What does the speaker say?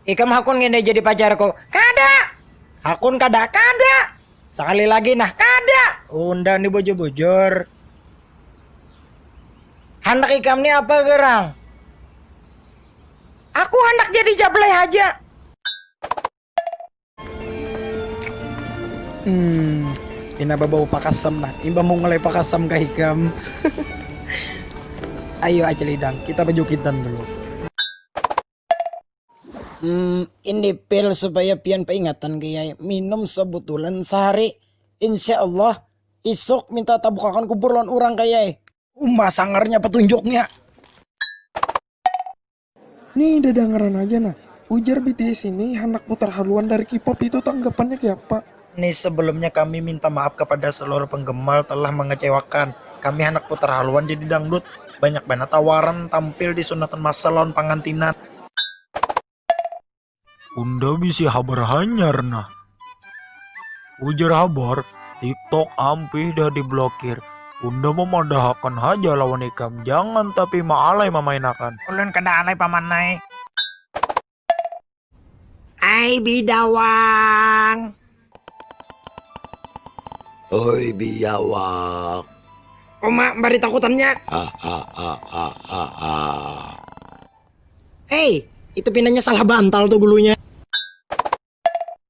Ikam hakun ngini jadi pacarku? Kada! Hakun kada, kada! Sakali lagi nah, kada! Unda ni bujur-bujur. Handak ikam ni apa gerang? Aku handak jadi jablay haja. Hmm, pina babau pakasam nah, imbah mungulai pakasam kah ikam? Ayo Acil Idang, kita bajukitan dulu. Hmm, ini pil supaya pian peingatan kiai. Minum sebutulan sehari. Insya Allah, isuk minta tabukakan kubur lawan orang kiai. Uma sangarnya petunjuknya. Nih dadangaran aja nah, ujar bts ini handak putar haluan dari K-pop itu tanggapannya kayapa. Ni sebelumnya kami minta maaf kepada seluruh penggemar telah mengecewakan. Kami handak putar haluan jadi dangdut. Banyak banar tawaran tampil di sunatan masal lawan pangantinan. Unda bisi habar hanyar nah. Ujar habar, TikTok ampih dah diblokir. Unda mamadahakan haja lawan ikam, jangan tapi maalai mamainakan. Ulun kada alai paman ai. Ai bidawang. Oi biawak. Uma bari takutannya. Hei, itu pinanya salah bantal tuh gulunya.